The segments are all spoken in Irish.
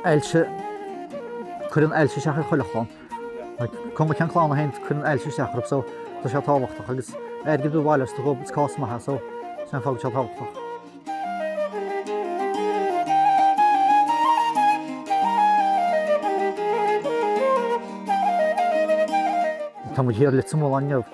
Ailse, Cuireann ailse isteach ar chuile chlann. Cuma cén clann atá ann, cuireann ailse isteach orthu so tá sé tábhachtach agus airgead a bhailiú is tá sé ag gabháil chuig cás maith so sin an fáth go bhfuil sé tábhachtach. Tá muid thiar i Leitir Mealláin inniu.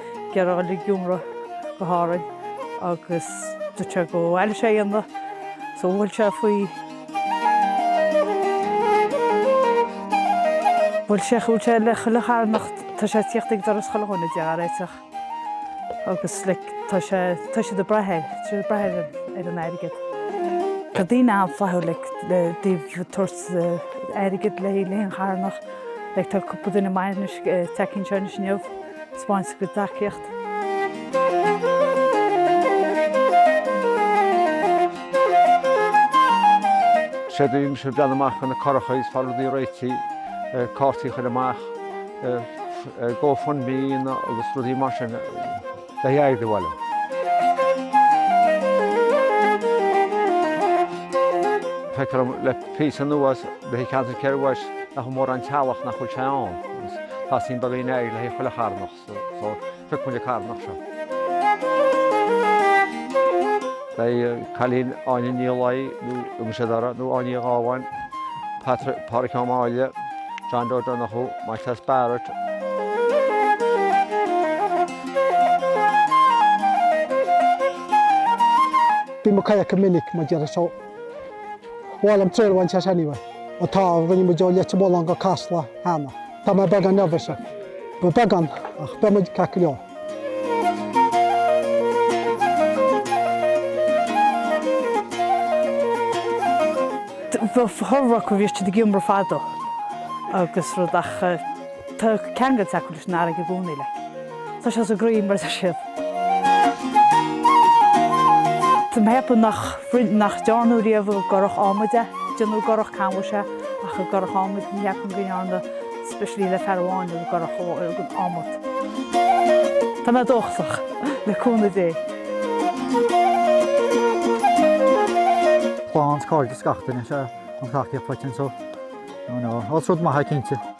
Ag iarraidh iomramh go hÁrainn agus dúirt sé go raibh sé dhá dhéanamh so bhuail sé faoi. Bhuail sé bhuail sé le chuile charthanach. Tá sé ag tíocht ag doras chuile dhuine de a réiteach agus like tá sé tá siad ag brath air tá siad ag brath ar ar an airgead. Tá daoine an-fhlaithiúil like le bheith ag tabhairt airgead le le haon charthanach like tá cúpla duine maith anois ag teacht anseo anois inniu. Taispeáint tacaíocht. Séard a dhéanaimse breathnú amach ar na curacha is fáil rudaí réitithe, cártaí a chur amach, Go Fund Me agus rudaí mar sin bheith ag iarraidh a bhailiú. Feictear dhom le. Píosa anuas Bith i gceantar Chill Rois nach mórán teaghlach nach bhfuil sé ann agus tá suim beag daoine air le haghaidh chuile charthanach so phioc muid an carthanach seo. Beidh cailín Áine Ní Laoi nó Uma Seodora nó Áine Uí Dhubháin, Patrick Pádraic Ó Máille, John O'Donoghue, Maitias Barrett, Bím ag caint go minic mar deir a Bhuel an traenáil seisean anyway, an t-ádh a rinne muid ó Leitir Mealláin go Casla cheana. Tá mé beagán nervous. Ba beagán ach beidh muid ceart go leor. Bhí siad ag iomramh fada agus rud ach eh, Tá ceangailt acu leis an fharraige i gcónaí, like. Tá sé sa gcroí, mar a deir siad. Tá mé ag ceapadh nach, nach ndearnadh riamh i gcurach ádhmaid é. Déanadh i gcurach canbhais é, ach i gcurach ádhmaid, ní cheapaim go ndearnadh, especially le fear amháin i gcurach ádhmaid. Tá mé dóchasach, le cúnamh Dé. Clann is cairde is gach duine, sea, an tacaíocht choitinn, so, you know, is rud maith é, cinnte.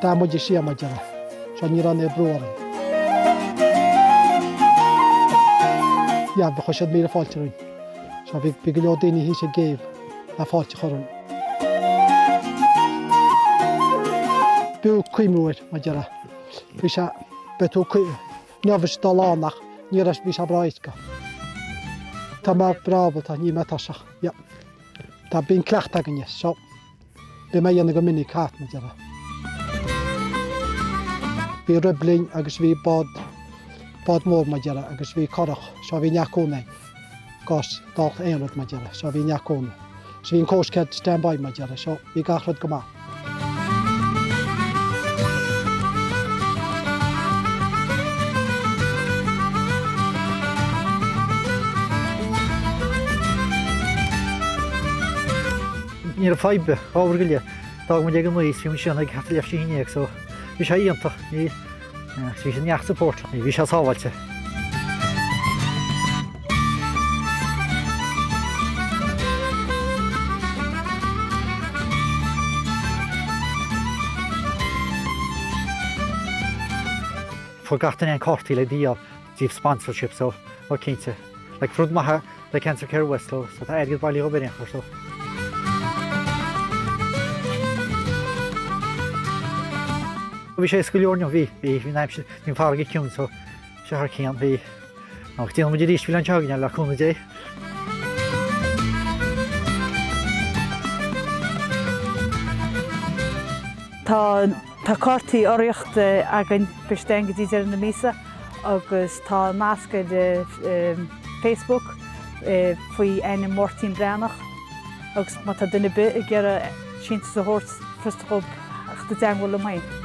Tá muid anseo mar a déarfá. So ní raibh aon bhrú orainn. Leann do chuir siad míle fáilte romhainn. So bhí bhí go leor daoine thíos ag an gcéibh le fáilte a chur romhainn. B'fhiú cuimhniú air, mar a déarfá. Bhí sé. Beidh tú. Ní raibh sé dúshlánach, ní raibh, bhí sé breá go. Tá mé breá ábalta, níl mé tuirseach, yeah. Tá, bíonn cleachtadh againne, so, bíonn mé á dhéanamh go minic, hat, mar a déarfá. Bhí RIB linn agus bhí bád, bád mór, mar a déarfá, agus bhí curach, so, bhí neart cúnamh. Got dhalta aon rud mar deireadh. Seo bhí neach cónaí. Sea bhí an cóis cead stand by mar deireadh. Seo bhí gach rud go maith. Ní raibh fadhb ábhar go leith. D'fhága muid ag an aoi trí mhí sean ag hata leisce an fhine ag so. Bhí sé iontach. Ní. Bhí sé neart support, bhí sé sábháilte. Fuair gach duine an cártaí le díol. the sponsorship so oh cinnte like rud maith le Cancer Care West so so tá airgead bailithe dhóibh ar aon chor so. bhí sé éasca go leor inniu bhí bhí bhí an aimsir bhí an farraige ciúin so sé thar cionn b'fhéidir go ndéanfaidh muid arís an bhliain seo chugainn le cúnamh Dé. Tá. Tá cártaí urraíochta againn beidh siad ann go dtí deireadh na míosa agus tá nasc ar Facebook faoi ainm Máirtín Breathnach agus má tá duine ar bith ag iarraidh síntiús a thabhairt just dhóibh a theacht i dteagmháil liom féin.